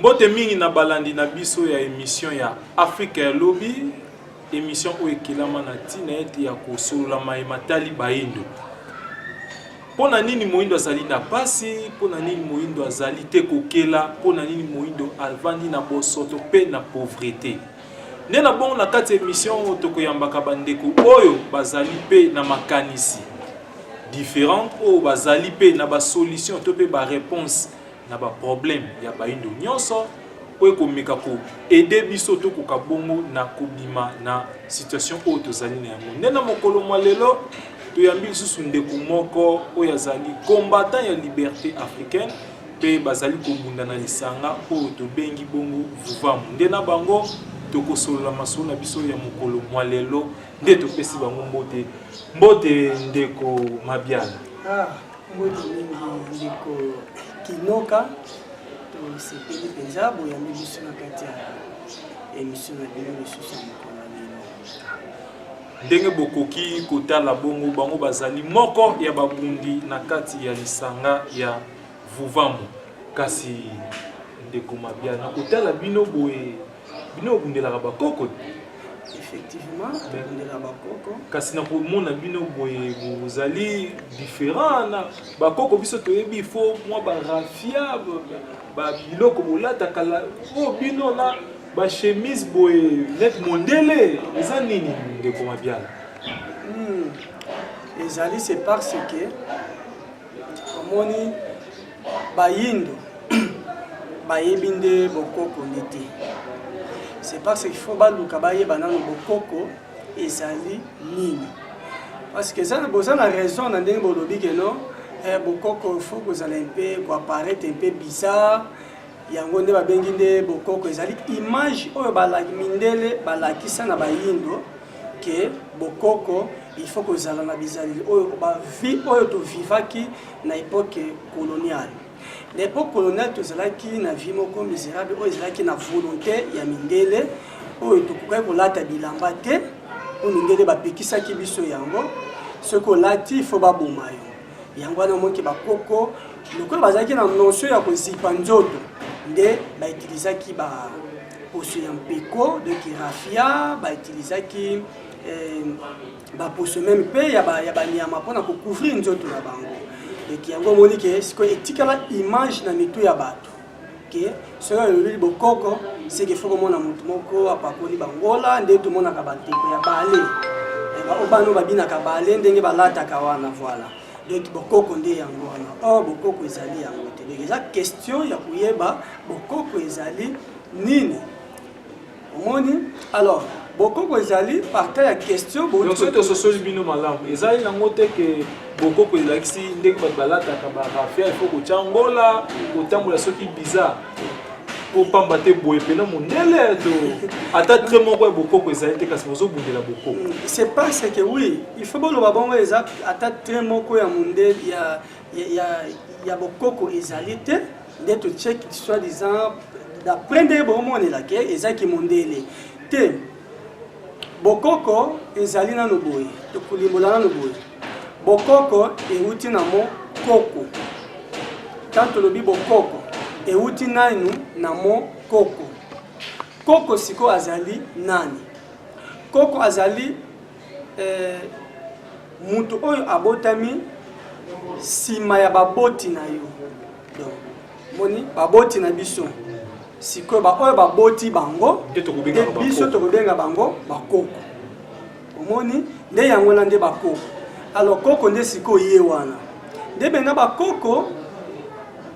Mbote mingi na balandi na biso ya emission ya Afrika ya lobi, emission oyo ekelama na ntina ete ya kosolola maye matali baindo. Mpo na nini moindo azali na mpasi? Mpo na nini moindo azali te kokela? Mpo na nini moindo avandi na bosoto mpe na pauvrete? Nde na bongo na kati ya emission oyo tokoyambaka bandeko oyo bazali mpe na makanisi differente oyo bazali mpe na basolution to mpe bareponse na ba problème ya bayindo nyonso mpo ekomeka ko aider biso tokoka bongo na kobima na situation oyo tozali na yango nde na mokolo mwa lelo toyambi lisusu ndeko moko oyo azali combattant ya liberté africaine mpe bazali kobunda na lisanga oyo tobengi bongo vuvamu nde na bango tokosolola masolo na biso ya mokolo mwa lelo nde topesi bango mbote mbote ndeko mabiala ah. Mbote mingi ndeko Kinoka, tosepeli mpenza boyambi biso na kati ya emission na bino lisusu ya mokolo na bino. Ndenge bokoki kotala bongo, bango bazali moko ya babundi na kati ya lisanga ya Vuvamu. Kasi ndeko Mabia, na kotala bino boye bino obundelaka bakoko effectivement tobundelaka bakoko kasi na komona bino boye bozali différent na bakoko biso toyebi fo mwa barafia babiloko bolataka oyo oh, bino na bachemise boye net mondele eza nini ndeko mabiala hmm. ezali c'est parce que omoni bayindo bayebi nde bokoko nde te c'est parce qu'il faut baluka bayeba nano bokoko ezali nini parce que eza boza na raison na ndenge bolobi keno eh, bokoko faut kozala mpe koaparete mpe bizarre yango nde babengi nde bokoko ezali image oyo mindele balakisa na bayindo ke bokoko il faut kozala na bizaleli oyo bavie oyo tovivaki na epoque coloniale na epoque coloniale tozalaki na vie moko miserable oyo ezalaki na volonté ya mindele oyo tokokaki kolata bilamba te oyo mindele bapekisaki biso yango soki olati fo baboma yo yango wana omoki bakoko lokola bazalaki na notion ya kozipa nzoto nde bautilisaki ba poso ya mpeko de kirafia bautilisaki eh, baposo meme mpe ya banyama mpona kocouvrir nzoto na bango eki yango omoni ke sikoyo etikala image na mitu ya bato ke soki olobeli bokoko seke fo komona motu moko apakoli bangola nde tomonaka bandeko ya bale baobano eh, babinaka bale ndenge balataka wana voila donc bokoko nde yango wana or bokoko ezali yango te donc eza question ya koyeba bokoko ezali nini omoni alors bokoko ezali parta ya question soki tososoli bino malamu ezali nango te ke bokoko elakisi ndenge bato balataka barafia ifo kotya ngola kotambola soki bizarre kopamba te boye mpena mondele to ata tre moko ya bokoko ezali te kasi bozobundela bokoko mm, c'est pas ce que oui il faut boloba bongo eza ata tre moko ya mondele ya, ya, ya, ya bokoko ezali te nde to check soit disant d'après nde bomonela ke eza kimondele te bokoko ezali nano boye tokolimbola nano boye bokoko euti na mokoko ntango tolobi bokoko euti nanu na mokoko koko sikoyo azali nani koko azali Eh, moto oyo abotami nsima ya baboti na yo donc moni baboti na biso sikoyo baoyo baboti bango te biso tokobenga bango bakoko omoni nde yango wana nde bakoko alors koko nde sikoyo ye wana nde benga bakoko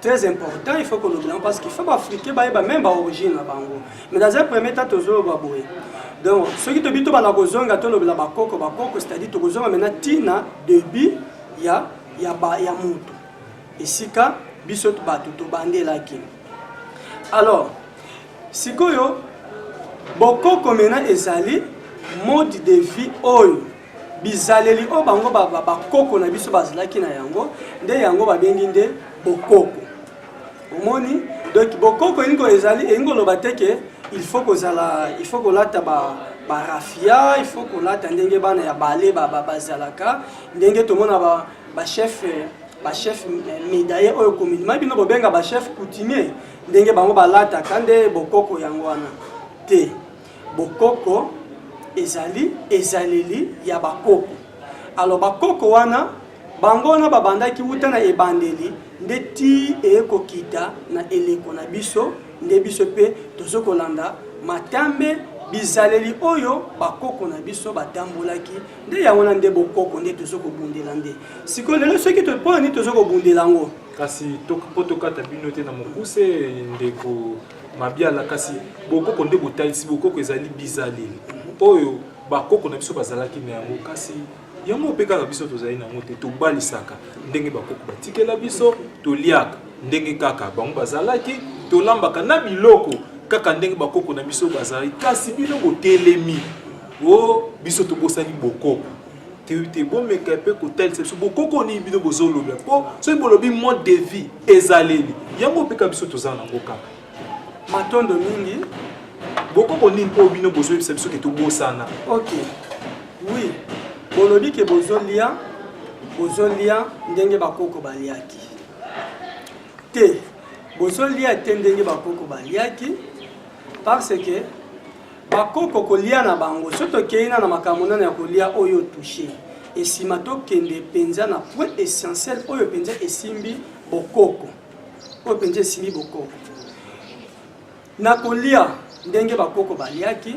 très important il faut koloba yango parce qu'il faut baafricain bayeba meme baorigine na bango mais dans un premier temps tozoloba boye donc soki tobi tobanda kozonga tolobela bakoko bakoko c'est-à-dire tokozonga maintenant ntina debut ya ya, ba, ya moto esika biso bato tobandelaki alors sikoyo bokoko maintenant ezali mode de vie oyo bizaleli oyo bango bakoko na biso bazalaki na yango nde yango babengi nde bokoko omoni donc bokoko elingi ezali elingi koloba te ke il faut kozala il faut kolata ba barafia il faut kolata ndenge bana ya bale bazalaka ndenge tomona ba bachef bachef medaye oyo communement bino bobenga bachef coutumier ndenge bango balataka nde bokoko yango wana te Bokoko ezali ezaleli ya bakoko. Alors bakoko wana bango wana babandaki wuta na ebandeli nde ti eye kokita na eleko na biso nde biso mpe tozo kolanda matambe bizaleli oyo bakoko na biso batambolaki nde yango na nde bokoko nde tozo kobundela nde sikoyo lelo soki mpona nini tozo kobundela yango kasi mpo tokata bino te na mokuse ndeko Mabiala kasi bokoko nde botalisi bokoko ezali bizaleli oyo bakoko na biso bazalaki na yango kasi yango mpe kaka biso tozali na yango te tobalisaka ndenge bakoko batikela biso toliaka ndenge kaka bango bazalaki tolambaka na biloko kaka ndenge bakoko na biso bazalaki kasi bino botelemi o oh, biso tobosani bokoko te bomeka mpe kotalisa biso bokoko nini bino bozolobela mpo soki bolobi mode de vie ezaleli yango mpeka biso toza nango kaka matondo mingi bokoko nini mpo bino bozoyebisa biso ke tobosana ok wi bolobi ke bozolia bozolia ndenge bakoko baliaki te bozolia te ndenge bakoko baliaki parce que Bakoko kolia na bango soki tokei na na makambo nano ya kolia oyo touche esima tokende mpenza na point essentiel oyo mpenza esimbi bokoko oyo mpenza esimbi bokoko na kolia ndenge bakoko baliaki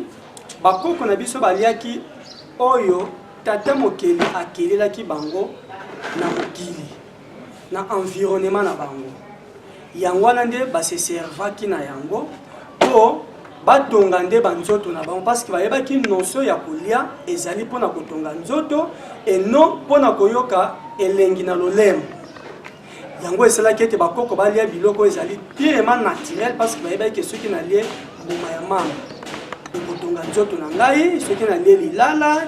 bakoko na biso baliaki oyo tata mokeli akelelaki bango na mokili na environnement na bango yango wana nde baseservaki na yango mpo batonga nde banzoto na bango parceke bayebaki notion ya kolia ezali mpo na kotonga nzoto eno mpo na koyoka elengi na lolemo yango esalaki ete bakoko balia biloko ezali pirema naturel parceke bayebaki soki nalie mbuma ya mama ekotonga nzoto na ngai soki nalie lilala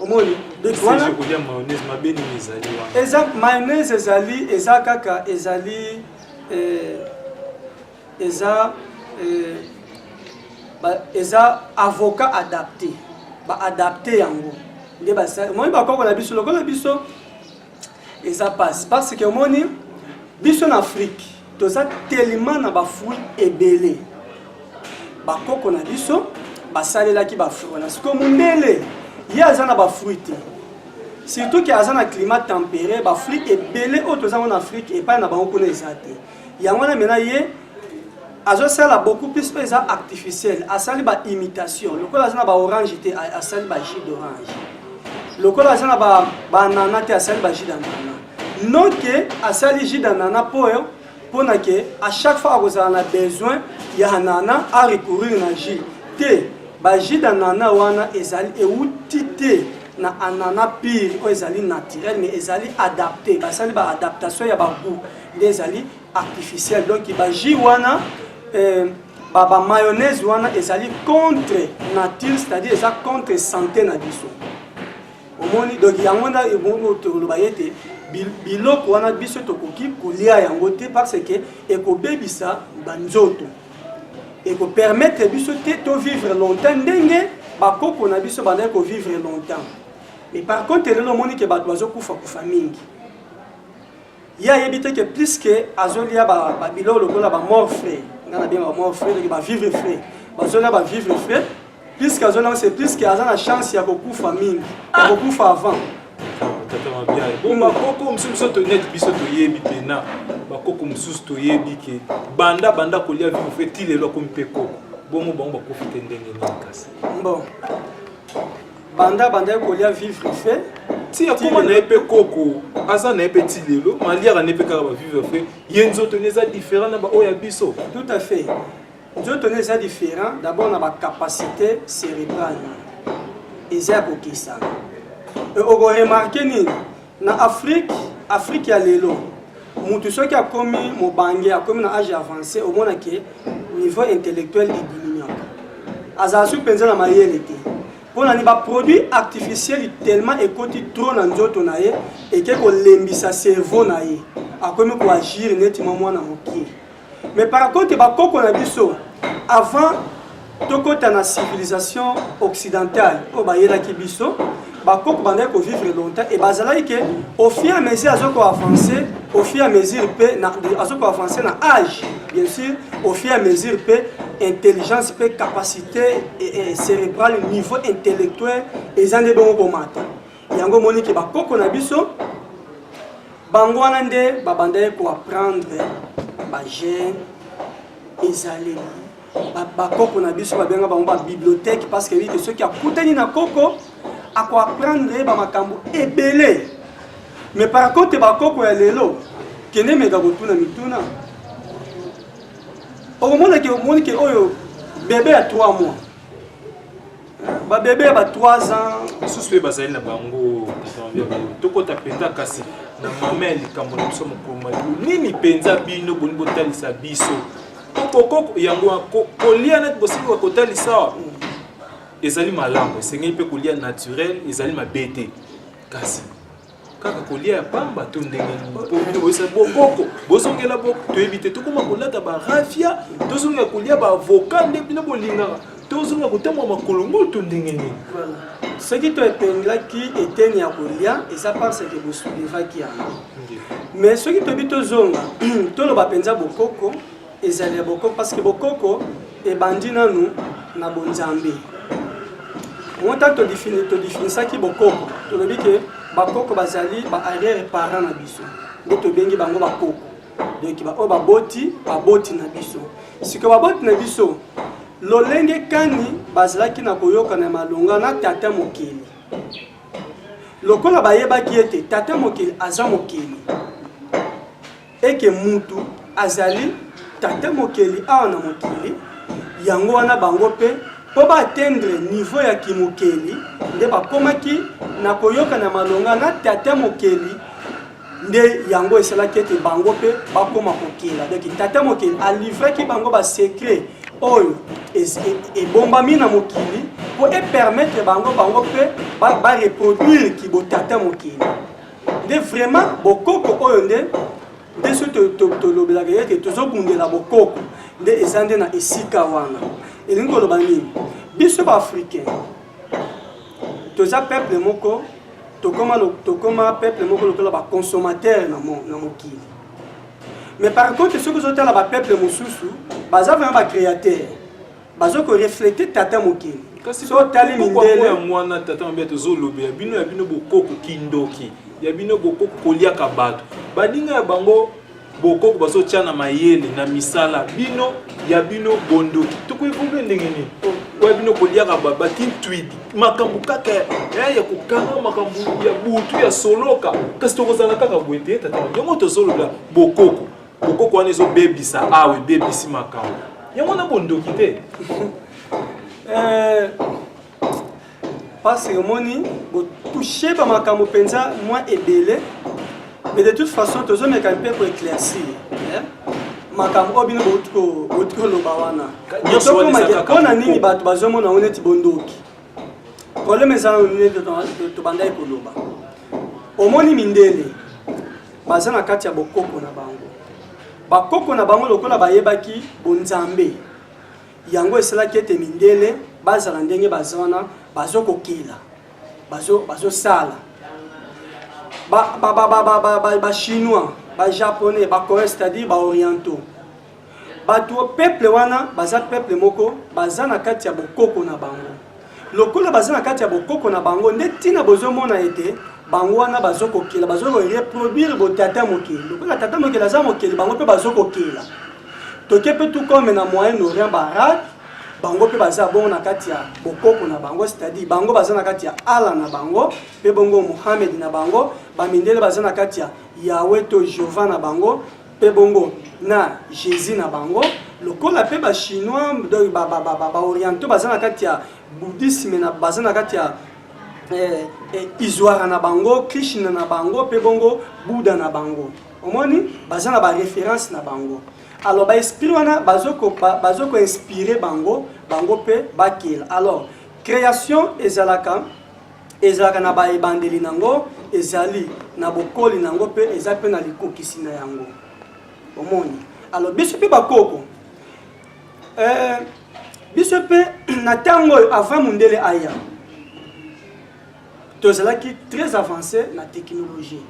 omoni wana eza mayonnaise ezali eza kaka ezali eh, eza eh, ba, eza avocat adapté baadapte yango nde basali omoni bakoko na biso lokola biso eza pasi parce que omoni biso na afrique toza tellement na bafruit ebele bakoko na biso basalelaki bafruit wana sikoyo mondele ye aza na bafruit te surtout ke aza na climat tempéré bafruit ebele oyo toza ngo na afrique epai na bango kuna eza te yango wana mena ye azosala beaucoup plus oyo eza artificiel asali ba imitation lokola aza na ba orange te asali ba jus d'orange lokola aza na ba banana te asali ba jus d'anana non ke asali jus d'anana mpo oyo mpona ke à chaque fois akozala na besoin ya anana a recourir na jus te ba jus d'anana wana ezali euti te na anana pire oyo ezali naturel mais ezali adapté basali ba adaptation ya bagout nde ezali artificiel donc ba jus wana euh, ba, ba mayonnaise wana ezali contre nature c'est-à-dire eza contre santé na biso omoni donc yango nda tokoloba ye te biloko wana biso tokoki kolia yango te parce que ekobebisa banzoto ekopermettre biso te tovivre longtemps ndenge bakoko na biso bandaki kovivre longtemps mais par contre lelo omoni ke bato bazokufa kufa mingi ye ayebi te ke puiske azolia babiloko lokola bamort frais nga nabenga bamort frais loki bavivre frais bazolia bavivre frais puiske azoliango se puiske aza na chance ya kokufa mingi ya kokufa avant bakoko mosusu biso toyete biso toyebi mpena bakoko mosusu toyebi ke banda banda kolia vivre frais ti lelo akomi mpe koko bongo bango bakufi te ndenge nini kasi bon banda abandaki kolia vivre fe ti akoma na ye mpe koko aza na ye mpe ti lelo maliaka ne mpe kaka bavivre fe ye nzoto ne eza différent na baoyo ya biso tout à fait nzoto ne eza différent d'abord na bacapacité cérébrale eza ya kokisana okoremarke nini Na Afrique, Afrique ya lelo, mutu soki akomi mobange, akomi na age avancé, omona ke niveau intellectuel ediminuaka. Azala soki penza na mayele te. Pona ni ba produits artificiels tellement ekoti trop na nzoto na ye, eke kolembisa cerveau na ye. Akomi ko agir neti mwa mwana mokie. mais par contre bakoko na biso avant tokota na civilisation occidentale oyo bayelaki biso bakoko bandaki kovivre longtemps e bazalaki ke au fur et à mesure azo koavance au fur et à mesure mpe azo koavance na age bien sûr au fur et à mesure mpe intelligence mpe capacité cérébrale niveau intellectuel eza nde bongo komata yango omoni ke bakoko na biso bango wana nde babandaki koapprendre bagene ezaleli bakoko na biso babenga bango babibliothèque parce que yebite soki akutani na koko akoapprendre ye bamakambo ebele mais par contre bakoko ya lelo kende meka kotuna mituna okomonake omoni ke oyo bebe ya 3 mois ba bebe ya ba 3 ans misusu mpe bazali na bango tokota mpenza kasi na mama ya likambo na biso mokoma nini mpenza bino boni botalisa biso kokoko yango kolia neti bosili kotalisa awa ezali malamu esengeli mpe kolia naturel ezali mabe te kasi kaka kolia ya pamba to ndenge nini boyesa bokoko bozongela boko toyebi te tokoma kolata barafia tozongela kolia baavoka nde bino bolingaka tozongela kotambola makolo ngulu to ndenge nini soki to epenglaki eteni ya kolia eza parce que bosoulevaki yango mais soki toyebi tozonga toloba mpenza bokoko ezali ya bokoko parce que bokoko ebandi nanu na bonzambe monta todifinisaki bokoko tolobi ke bakoko bazali ba arrière parent na biso nde tobengi bango bakoko donc baoyo baboti baboti na biso sikoyo baboti na biso lolenge kani bazalaki na koyokana ya malonga na tata mokeli lokola bayebaki ete tata mokeli aza mokeli eke mutu azali tata mokeli awa na mokili yango wana bango mpe mpo baatendre niveau ya kimokeli nde bakomaki na koyokana malonga na tata mokeli nde yango esalaki ete bango mpe bakoma kokela donki tata mokeli alivraki bango basecret oyo e, ebombami na mokili mpo epermettre bango bango mpe bareproduire kibotata mokili nde vraiment bokoko oyo nde nde soki tolobelaka ye ete tozobundela bokoko nde eza nde na esika wana elingi koloba nini biso baafricain toza peuple moko tokoma, tokoma peuple moko lokola baconsommateur na, mo, na mokili mais par contre soki ozotala bapeuple mosusu baza vraiment bacréateur bazo ko reflete tata mokili so otali mindele ya mwana tata mabe tozolobela bino ya bino bokoko kindoki ya bino bokoko koliaka bato baninga ya bango bokoko bazotya na mayele na misala bino ya bino bondoki tokoevolue ndenge nini oya bino koliaka batintwidi makambo kaka eh, ya kokanga makambo ya butu ya soloka kasi tokozala kaka boye te tata yango tozolobela bokoko kokoko wana ezobebisa awa ebebisi makambo yango wana bondoki te eh, pasi omoni botouche bamakambo mpenza mwa ebele mais de toute façon tozomeka mpe koeclaircir eh? makambo oyo bino bouti koloba wana mpo na nini bato bazomona ngo neti bondoki problème eza nanu nde tobandaki koloba omoni mindele baza na kati ya bokoko na bango bakoko na bango lokola bayebaki bonzambe yango esalaki ete mindele bazala ndenge baza wana bazokokela bazosala bachinois bajaponais bacoreais c'est-à-dire baorientaux bato peuple wana baza peuple moko baza na kati ya bokoko na bango lokola baza na kati ya bokoko na bango nde ntina bozomona ete bango wana bazokokela bazokoreproduire botata mokili lokola tata mokili aza mokili bango mpe bazokokela toke mpe tukome na moyen orient barade bango mpe baza bongo na kati ya bokoko na bango c'est-à-dire bango baza na kati ya ala na bango mpe bongo mohamed na bango bamindele baza na kati ya yawe to jehova na bango Mpe bongo na Jesus na bango, lokola mpe ba chinois donc ba ba ba ba orientaux baza na kati ya bouddhisme na baza na kati ya eh, eh, izwara na bango krishna na bango mpe bongo buda na bango omoni baza na bareference na bango alors baesprit wana bazo koinspire bango bango mpe bakela alors création ezalaka Ezalaka na ba ebandeli na yango, ezali na bokoli na yango mpe eza mpe na likokisi na yango. Omoni? Alors biso mpe bakoko eh, biso mpe na ntango oyo avant mondele aya tozalaki très avancé na technologie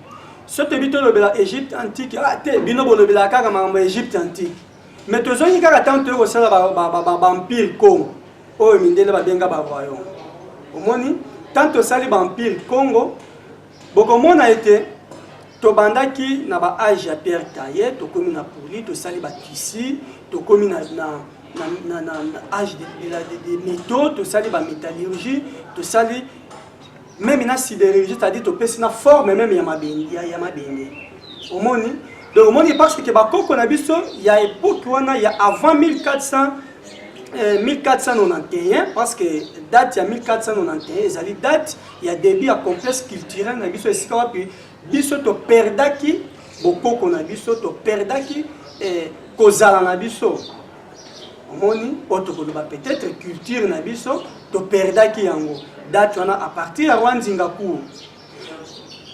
so toyebi tolobela egypte antique ah te bino bolobelaka kaka makambo ya egypte antique mais tozongi kaka ntango toye kosala bampile congo oyo mindele babenga bavoyon omoni ntango tosali bampile congo bokomona ete tobandaki na baage ya pierre taye tokomi na poli tosali batisi tokomi na, na, na, na, na, na age de, de, de, de meto tosali bametallurgie tosali meme na sidérurgie c'est-à-dire topesi na forme meme ya mabende ya, ya mabende omoni donc omoni parce que bakoko na biso ya époque wana ya avant 1400 euh, 1491 parce que date ya 1491 ezali date ya début ya complexe culturel na biso esika wapi biso toperdaki bokoko na biso toperdaki eh, kozala na biso omoni oyo tokoloba peut-être culture na biso toperdaki yango date wana à partir ya roi nzinga cour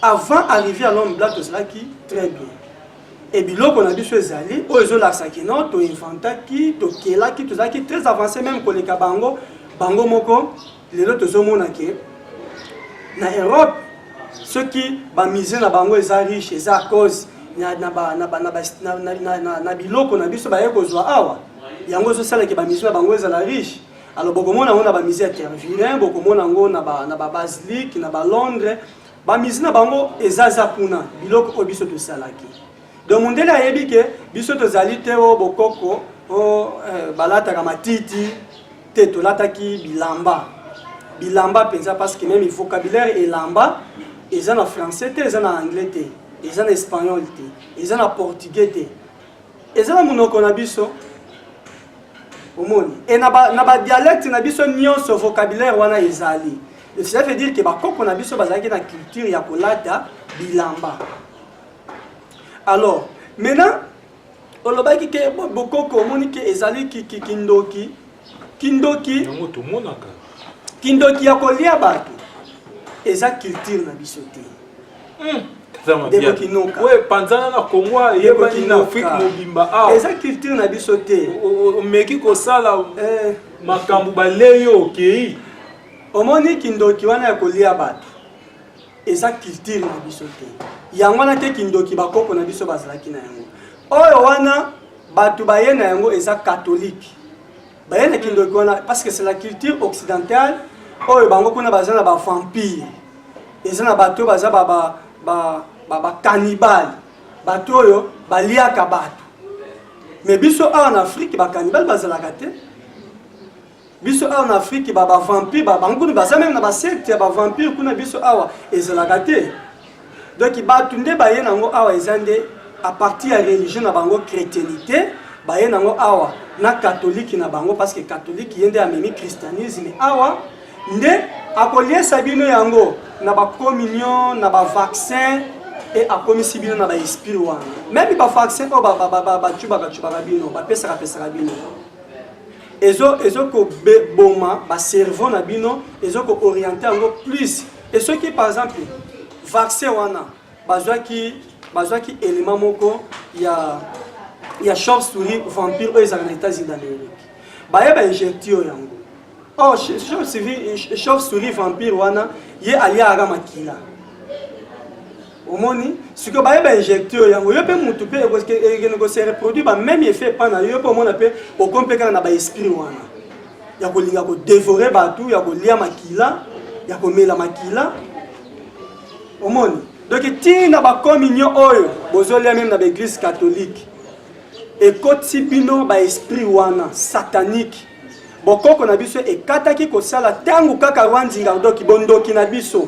avant arrivé ya l'homme blanc tozalaki très bien e biloko na biso ezali oyo ezolakisa kino toinventaki tokelaki tozalaki très avancé même koleka bango bango moko lelo tozomona ke na europe soki bamusée na bango eza riche eza cause na biloko na biso baye kozwa awa yango ezosala ke bamusée na bango ezala riche alors bokomona yango na bamusée ya tervilin bokomona yango na babasilique na balondres bamusée na bango eza za kuna biloko oyo biso tosalaki donc mondele ayebi ke biso tozali te o bokoko o eh, balataka matiti te tolataki bilamba bilamba mpenza parce que meme vocabulaire elamba eza na français te eza na anglais te eza na espagnol te eza na portugais te eza na monoko na biso omoni e na badialecte na biso nyonso vocabulaire wana ezali cela veut dire ke bakoko na biso bazalaki na culture ya kolata bilamba alors maintenant olobaki ke bokoko omoni ke ezali kindoki kindoki yango tomonaka kindoki ya kolia bato eza culture na biso te hmm. panzana na kongo eyebani na afrike mobimba awa ah. eza culture na biso te omeki kosala eh. makambo balei yo okei omoni kindoki wana ya kolia bato eza culture na biso te yango wana te kindoki bakoko na biso bazalaki na yango oyo wana bato baye na yango eza katholike baye na kindoki wana parce que c'est la culture occidentale oyo bango kuna baza na bavampire eza na bato oyo baza bakanibale bato oyo baliaka bato me biso awa na afrike bakanibale bazalaka te biso awa na afrike ba bavampire babango kuna baza meme na basecte ya bavampire kuna biso awa ezalaka te donk bato nde baye nango awa eza nde apartir ya religion na bango chrétienité baye nango awa na katolike na bango parce que katolike ye nde amemi christianisme awa nde akoliesa bino yango na bacommunion na bavaccin e akomisi bino na baesprit wana meme bavaccin oyo bacubakacubaka bino bapesakapesaka bino ezo ezo ko boma ba cerveau na bino ezo ko orienter yango plus et soki par exemple vaccin wana bazwaki bazwaki élément moko ya ya short story vampire oyo ezalaka na états-unis d'amérique baye ba injecte yo yango or oh, short story vampire wana ye aliaka makila omoni sikoyo baye bainjecte yo yango yo mpe motu mpe ekende kose reproduire ba même effet epa na yo mpe omona mpe okomi mpe kaka na baesprit wana ya kolinga kodevore bato ya kolia makila ya komela makila omoni donc ntina bakominio oyo bozolia meme na baeglise catholique ekoti bino baesprit wana satanique bokoko na biso ekataki kosala ntango kaka rwandingardoki bondoki na biso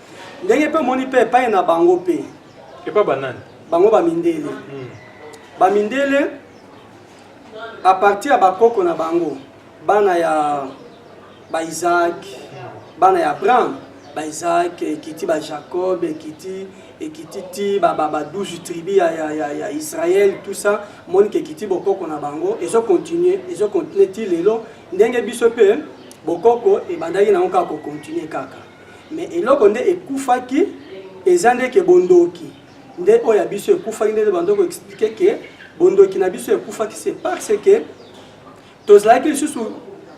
ndenge mpe omoni mpe epai na bango mpe epai banani bango bamindele hmm. bamindele a partir ya bakoko na bango bana ya baisake hmm. bana ya abraham baisake ekiti bajacob ekiti ekiti ti ba 12 tribu ya, ya, ya, ya israel tout ça omoni ke ekiti bokoko na bango ezocontinue ezocontinue ti lelo ndenge biso mpe bokoko ebandaki nango kaka kocontinue kaka mais eloko nde ekufaki eza nde ke bondoki nde oyo ya biso ekufaki nde bando ko expliquer ke bondoki na biso ekufaki c'est parce que tozalaki lisusu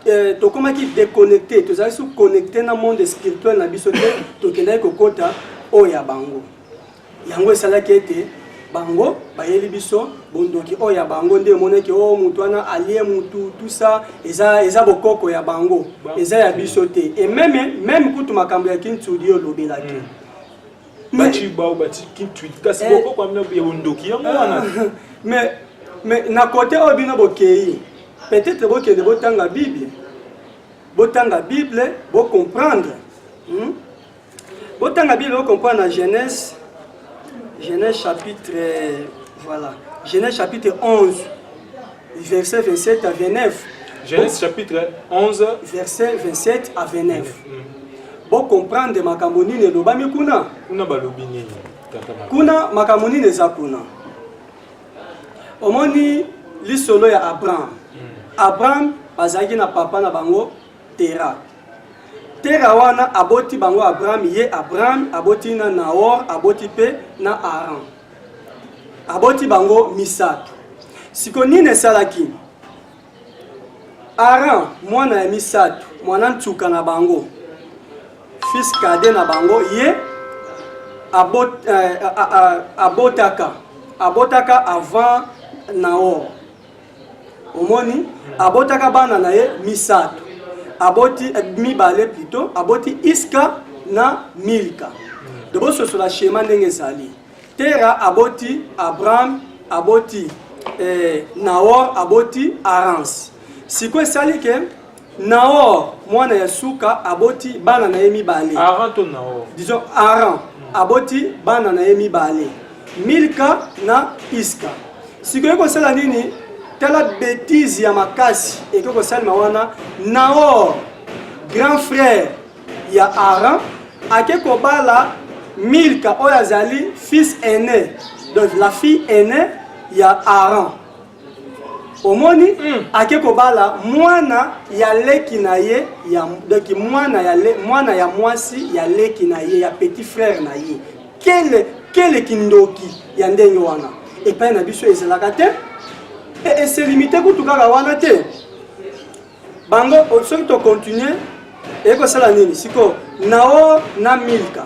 eh, tokomaki déconnecté tozalaki su connecté na monde spirituel na biso te tokendaki kokota oyo ya bango yango esalaki ete bango bayeli biso bondoki oyo ya bango nde emonaki o oh, motu wana alie motu tusa eza, eza bokoko ya bango eza ya biso te e meme meme kutu makambo ya kintudi olobelaki mm. baci bao baci kintudi kasi eh. bokoko ya bondoki yango ah. wana mais mais na kote oyo bino bokei peut-être bokende botanga bible botanga bible bocomprendre hmm? Botanga Bible, vous comprenez la Genèse, Genèse chapitre, voilà, Genèse chapitre 11, verset 27 à 29. Genèse chapitre 11, verset 27 à 29. Vous mm. comprenez ma camonine et l'obami kuna. Kuna balobi nini? Kuna ma camonine eza kuna. Omoni lisolo ya Abraham. Mm. Abraham bazalaki na papa na bango tera tera wana aboti bango abraham ye abraham aboti na naor aboti mpe na aran aboti bango misato siko nini esalaki aran mwana ya misato mwana ntuka na bango fils kade na bango ye abot, eh, abotaka abotaka avant naor omoni abotaka bana na ye misato aboti eh, mibale plutôt aboti iska na milka tobososola shema ndenge ezali tera aboti abraham aboti eh, naor aboti arance sikoyo esali ke Naor mwana ya suka aboti bana na ye mibale. Aran to Naor? Disons Aran hmm. aboti bana na ye mibale. Milka na Iska. Sikoyo kosala nini? Tala bêtise ya makasi eke kosalema wana. Naor grand frère ya Aran ake kobala Milka oyo azali fils aîné. Donc la fille aînée ya Aran. omoni mm. ake kobala mwana ya leki na ye ya donc mwana ya le, mwana ya mwasi ya leki na ye ya petit frère na ye kele kele kindoki ya ndenge wana epai na biso ezalaka te e, eselimite kutu kaka wana te bango soki to continuer ekosala nini sikoyo nao na milka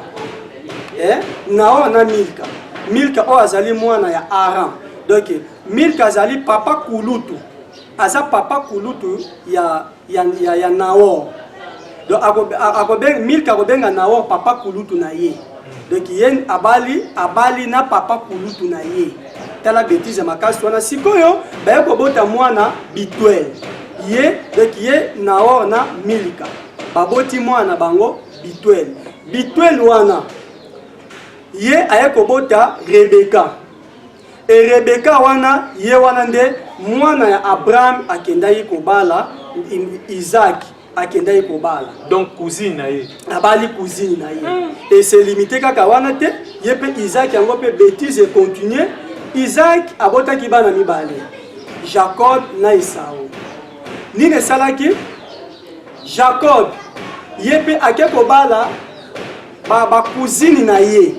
eh? nao na milka milka oyo azali mwana ya aram donc milka azali papa kulutu aza papa kulutu ya, ya, ya, ya naor donc akobenga milka akobenga naor papa kulutu na ye donc ye abali abali na papa kulutu na ye tala betise makasi wana sikoyo baye kobota mwana bitwel ye donc ye naor na milika baboti mwana bango bitwel bitwel wana ye aye kobota rebeka e rebeka wana ye wana nde mwana ya abraham akendaki kobala isaki akendaki kobala donc cousine na ye abali cousine na ye mm. et se limite kaka wana te ye mpe isaac yango mpe bétise econtinue isaac abotaki bana mibale jacob na esau nini esalaki jacob ye mpe ake kobala bakouzini ba na ye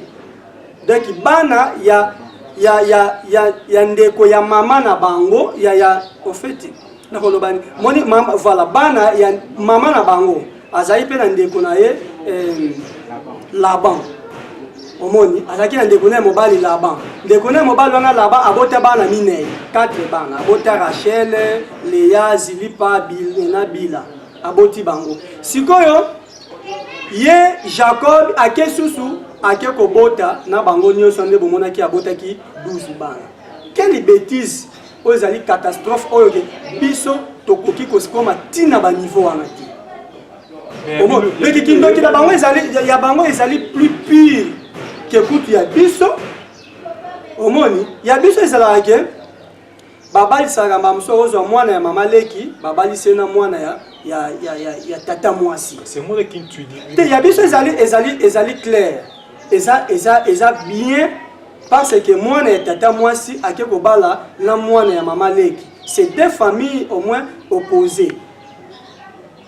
donc bana ya, ya, ya, ya, ya ndeko ya mama na bango ya, ya ofeti nakolobani moni mama, voilà bana ya mama na bango azali mpe na ndeko na ye eh, laban omoni azalaki na ndeko na ye mobali laban ndeko na ye mobali wana laban abota bana minei 4 bana abota rachel lea zilipa bil, na bila aboti bango sikoyo ye jacob ake susu ake kobota na bango nyonso nde bomonaki abotaki 12 bana quelle betise oyo ezali catastrophe oyo ke biso tokoki kosikoma ntina baniveau wana te mpe kikindoki na bango ezali ya bango ezali plus pire ke kutu ya biso omoni ya biso ezalaka ke babalisaka mbala mosusu ozwa mwana ya mama leki babalise na mwana ya, ya, ya, ya, ya tata mwasi te ya biso ezali, ezali, ezali claire eza eza eza bien parce que mwana ya tata mwasi ake kobala na mwana ya mama leki c'est deux familles au moins opposées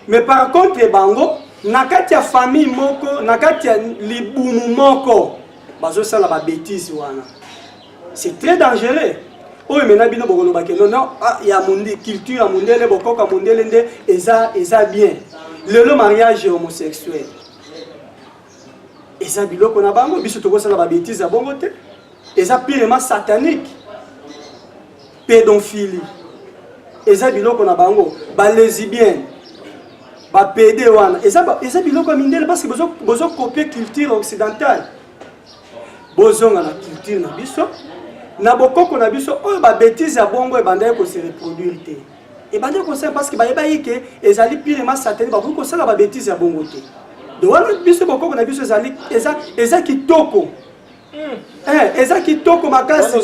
mais par contre bango na kati ya famille moko na kati ya libumu moko bazosala babetise wana c'est très dangereux oyo mena bino bokoloba ke nono ah, ya mundi culture ya mundele bokoka mundele nde eza eza bien lelo mariage homosexuel eza biloko na bango biso tokosala babetise ya bongo te eza pirema satanique pédophilie eza biloko na bango balesibienne bapede wana eza, eza biloko ya mindele parce que bozokopie bozo culture occidentale bozonga na culture na biso na bokoko na biso oyo babetise ya bongo ebandaki kose reproduire te ebandi kosala parce que bayebaki ke ezali pire ma satani bakoki kosala babetise ya bongo te de wana biso bokoko na biso ezali eza, eza kitoko hmm. eh, eza kitoko makasi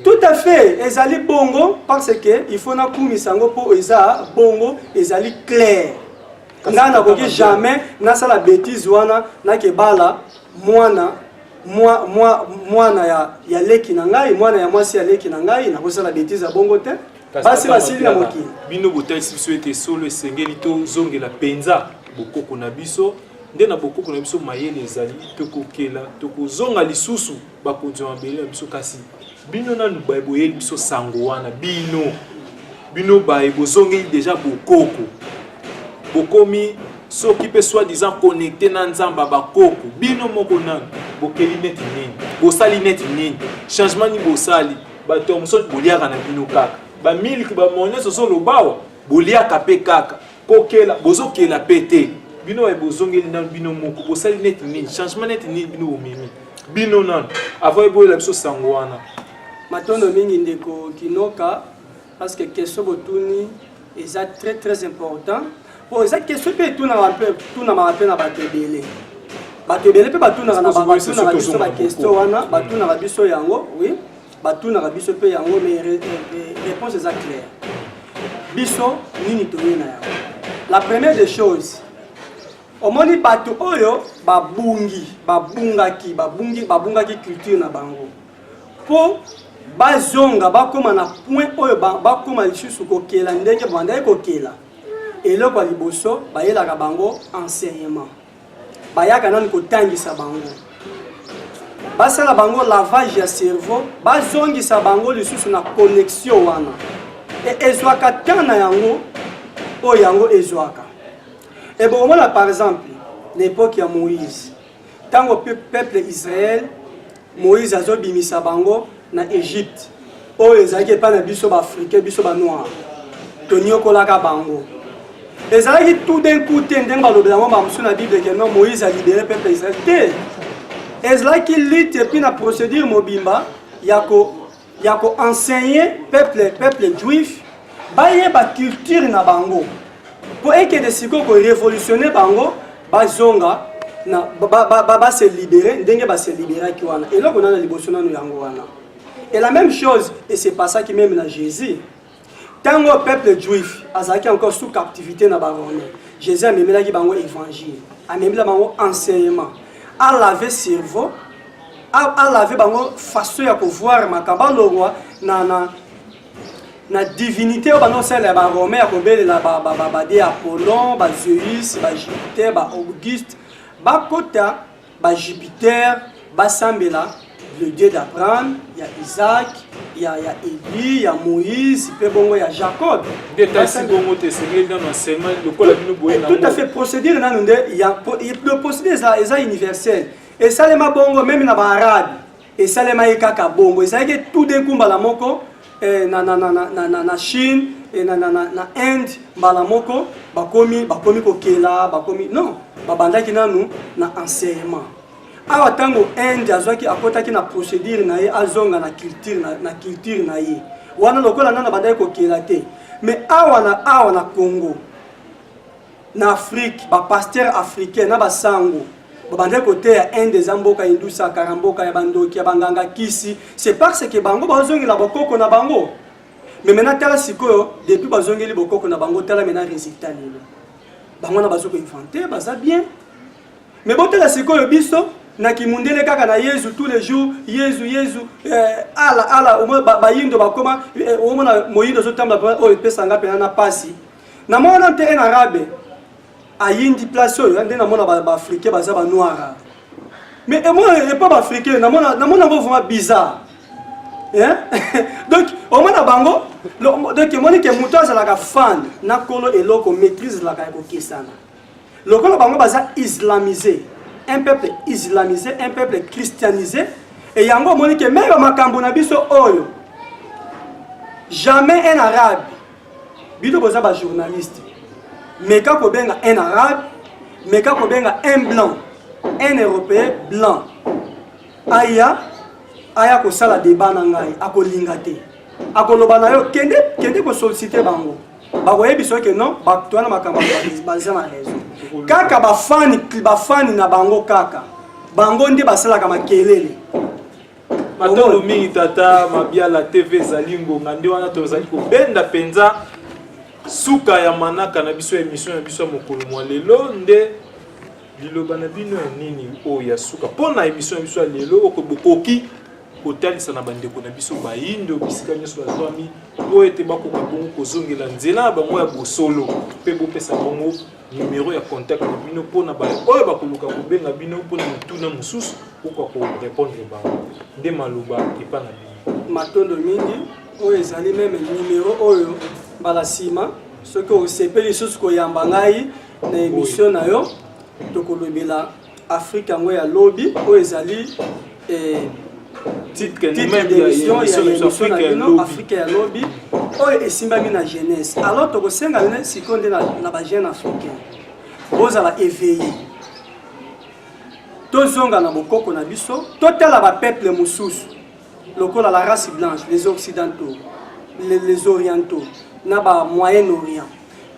tout à fait ezali bongo parce que il faut nakumisa yango mpo eza bongo ezali claire ngai nakoki jamais nasala betise wana nakebala mwana mwa, mwa, mwana ya, ya leki na ngai mwana ya mwasi ya leki na ngai nakosala betise ya bongo te basi basili na mokili bino botalisi biso ete solo esengeli tozongela mpenza bokoko na biso nde na bokoko na biso mayele ezali tokokela tokozonga lisusu bakonzi ya mabele na biso kasi bino nanu boyeli biso sango wana bino Bino baye bozongeli deja bokoko, bokomi soki mpe soit disant connecte na nzamba bakoko. Bino moko nani bokeli neti nini, bosali neti nini, changement nini bosali? Bato ya mosusu boliaka na bino kaka bamiliki bamones ozolobawa boliaka mpe kaka kokela bozokela mpe te bino baye bozongeli nano bino moko bosali neti nini changement neti nini bino bomemi bino nano avant eboyela biso sango wana matondo mingi ndeko kinoka parce que question botuni eza très très important po eza question mpe etunaka mpe etunamaka mpe na bato ebele bato ebele mpe batunaka na batunaka biso baquestion wana batunaka biso yango oui batunaka biso mpe yango mais réponse eza claire biso nini toye na yango la première des choses omoni bato oyo babungi babungaki babungi babungaki culture na bango mpo bazonga bakóma na point oyo bakóma lisusu kokela ndenge bandaki kokela eloko ya liboso bayelaka bango enseignement bayaka nanu kotangisa bango basala bango lavage ya cerveau bazongisa bango lisusu na connexion wana e ezwaka temps na yango oyo yango ezwaka ebokomona par exemple na epoke ya moïse Tango peuple Israël Moïse azobimisa bango na Egypte oyo ezalaki epai na biso ba africain biso ba noir toniokolaka bango ezalaki tout d'un coup te ndenge balobela yango bamosusu na bible ke non moïse alibere peuple israel te ezalaki lutte epuis na procédure mobimba ya ko ya ko enseigner peuple peuple juif bayeba culture na bango mpo ekende sikoyo ko révolutionner bango bazonga na base libere ndenge base liberaki wana eloko nana liboso nano yango wana et la même chose et se passaki meme na jésus ntango oyo peuple juif azalaki encore sous captivité na barome jésus amemelaki bango évangile amemela bango enseignement alave cerveau alave bango façon ya kovoir makambo alongwa na, na, na divinité oyo bandosalela ya baromain ya kobelela bade apollon bazeus bajupiter baauguste bakota ba Jupiter basambela le dieu d'Abraham ya Isaac ya ya Eli ya Moïse pe bongo ya Jacob nde tasi bongo te esengeli nano asema lokola bino boye na tout à fait procédure nano nde ya le procédure eza eza universel esalema bongo meme na ba arabe esalemaki kaka bongo ezalaki tout d'un coup mbala moko eh, na, na, na, na, na, na chine eh, na, na, na, na inde mbala moko bakomi bakomi kokela bakomi non babandaki nanu na enseignement awa ntango inde azwaki akotaki na procédure na ye azonga na culture na, na, culture na ye wana lokola nano abandaki kokela te mais awa na awa na congo na afrique bapasteur africain na basango babandaki koteya inde eza mboka indusa kara mboka ya bandoki ya banganga kisi c'est parce que bango bazongela bokoko na bango me mena tala sikoyo depuis bazongeli bokoko na bango tala mena résultat lelo bango wana bazo koinvente baza bien me botala sikoyo biso na kimundele kaka na yezu tous les jours yezu yezu eh, ala ala bayindo bakoma eh, omona moyindo ozotambola oyo epesanga mpena na pasi Na mona te en arabe ayindi place oyo nde namona baafricain baza banoire mais emona epa baafricain namona yango vraiment bizarre donc omona bango donc emoni ke moto azalaka fan na kolo eloko maîtrise laka ya kokesana lokola bango baza islamisé un peuple islamisé un peuple christianisé e yango omoni ke meme makambo na biso oyo jamais un arabe bino boza ba journaliste meka kobenga un arabe meka kobenga un blanc un européen blanc aya aya kosala deba na ngai akolinga te akoloba na yo kende kende kosollicite bango bakoyebisa oke non bato wana makambo baza na raison kaka bafani bafani na bango kaka bango nde basalaka makelele Matondo mingi tata Mabiala TV ezali ngonga nde wana tozali kobenda mpenza suka ya manaka na biso ya emission na biso ya mokolo mwa lelo nde liloba na bino ya nini oyo ya suka mpo na emission na biso ya lelo oko bokoki kotalisa na bandeko na biso bayindo bisika nyonso bazwami mpo ete bakoka bongo kozongela nzela ya bango ya bosolo mpe bopesa bongo numero ya contact na bino mpo na bato oyo bakoluka kobenga bino mpo na mituna mosusu okoka korepondre bango nde maloba epa na bino matondo mingi oyo ezali meme numero oyo mbala nsima soki osepeli lisusu koyamba ngai na emission na yo tokolobela Afrique yango ya lobi oyo ezali eh, titre d'émission ya émission na bino afrika ya lobi oyo esimbami na jeunesse alors tokosenga bino sikoyo nde na bajeune africain bozala éveillé tozonga na bokoko na biso totala bapeuple mosusu lokola la race blanche les occidentaux les, les orientaux na ba moyen orient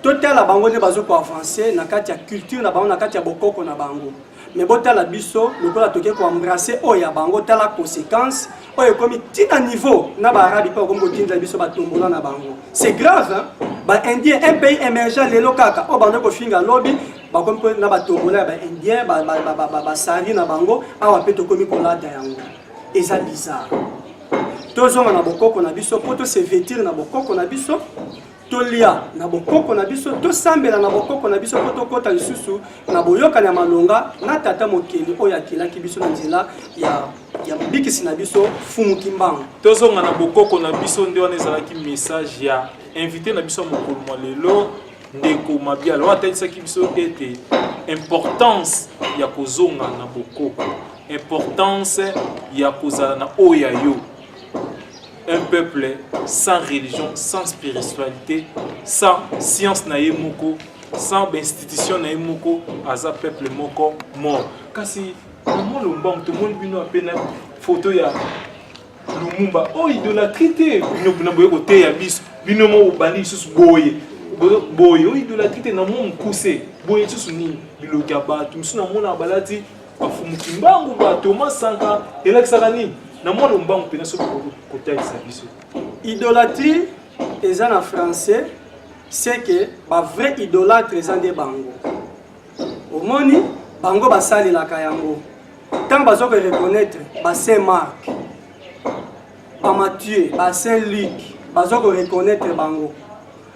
totala bango nde bazo ko avancer na kati ya culture na bango na kati ya bokoko na bango mais botala biso lokola toke koembrace oyo ya bango tala conséquence oyo ekomi ti na niveau na baarabi mpe okomi kotinda biso batombola na bango c'est grave hein? baindien un pays émergent lelo kaka oyo bando kofinga lobi bakomi mpe na batombola ya baindien basari na bango awa mpe tokomi kolata yango eza bizarre tozonga na bokoko na biso mpo tose vetire na bokoko na biso tolia na bokoko na biso tosambela na bokoko na biso mpo tokɔta lisusu na boyokani ya malonga na tata mokeli oyo akelaki biso na nzela ya ya mobikisi na biso fumu kimbangu tozonga na bokoko na biso nde wana ezalaki message ya invité na biso ya mokolo mwa lelo ndeko mabiala oyo atalisaki biso ete importance ya kozonga na bokoko importance ya kozala na oyo ya yo un peuple sans religion, sans spiritualité, sans science na ye moko, sans institution na ye moko, aza peuple moko mort. Kasi Maman Lombang, tout le monde bino appelle photo ya Lumumba. Oh, idolâtrie te, bino bino boye kote ya biso, bino mo obandi lisusu boye. Boye, oh, idolâtrie te na mo mokuse. Boye lisusu nini? Biloki ya bato, mosusu na mona balati Bafumu kimbangu ba Thomas Sanka elakisaka nini na mwana mbangu mpenza soki kotalisa biso idolatrie eza na français c'est que ba vrai idolatre eza nde bango omoni bango basalelaka yango ntango baza koreconnaitre ba saint marc ba mathieu ba saint luc baza koreconnaitre bango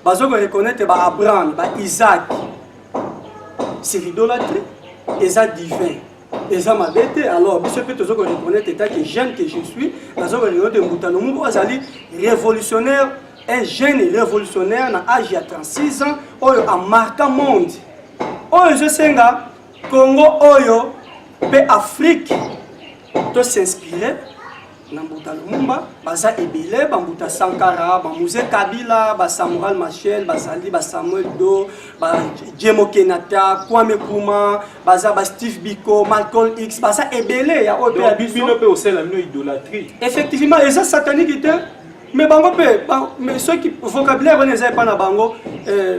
bazo ko reconnaître ba Abraham ba Isaac c'est l'idolâtrie eza divin eza mabe te alors biso mpe tozo ko reconnaître etat que jeune que je suis nazo ko reconnaître mbuta lomubu azali révolutionnaire un jeune révolutionnaire na age ya 36 ans oyo amarka monde oyo ezosenga congo oyo mpe afrique to s'inspire na mbuta lumumba baza ebele bambuta sankara bamuze kabila basamural machel bazali basamuel do bajemo kenata kwame kuma baza basteve biko malcol x baza ebele ya oyo ya biso mpe osala bino idolatrie effectivement eza satanique te mais bango mpe mais soki vocabulaire wana eza epai na bango euh,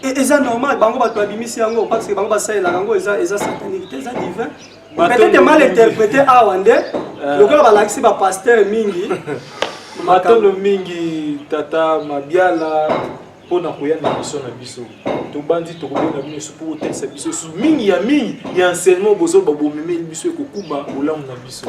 e, eza normal bango bato babimisi yango parce que bango basalelaka yango eza satanique te eza divin peut-être mal interprété awa nde euh. lokola balakisi bapasteur mingi matondo mingi tata mabiala mpo na koya na biso na biso tobanzi tokobenda bino biso mpo kotalisa biso esu mingi ya mingi ya enseignement bozoba bomemeli biso ekokuba bolamu na biso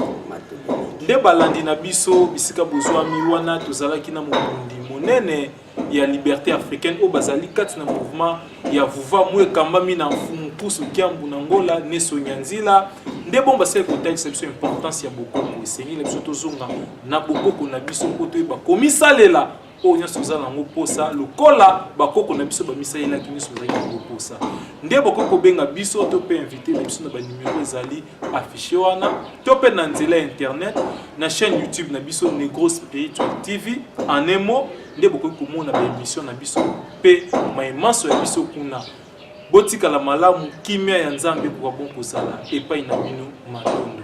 nde balandi na biso bisika bozwami wana tozalaki na mobundi monene ya liberte africaine oyo bazali kati na mouvement ya vuva moyo ekambami na mfumu pusu kiambu na ngola neso nyanzila nde bongo basali kotalisa biso importance ya bokoko esengeli na biso tozonga na bokoko na biso mpo toyeba komisalela oyo nyonso oza nango mposa lokola bakoko na biso bamisalelaki nyonso ozalaki nango mposa nde bokoki kobenga biso to mpe invité na biso na banimero ezali affiche wana to mpe na nzela ya internet na chaîne youtube na biso negro spiritual tv en un mot nde bokoki komona baémission na biso mpe mai manso ya biso kuna botikala malamu kimia ya nzambe ekoka bon kozala epai na bino matondo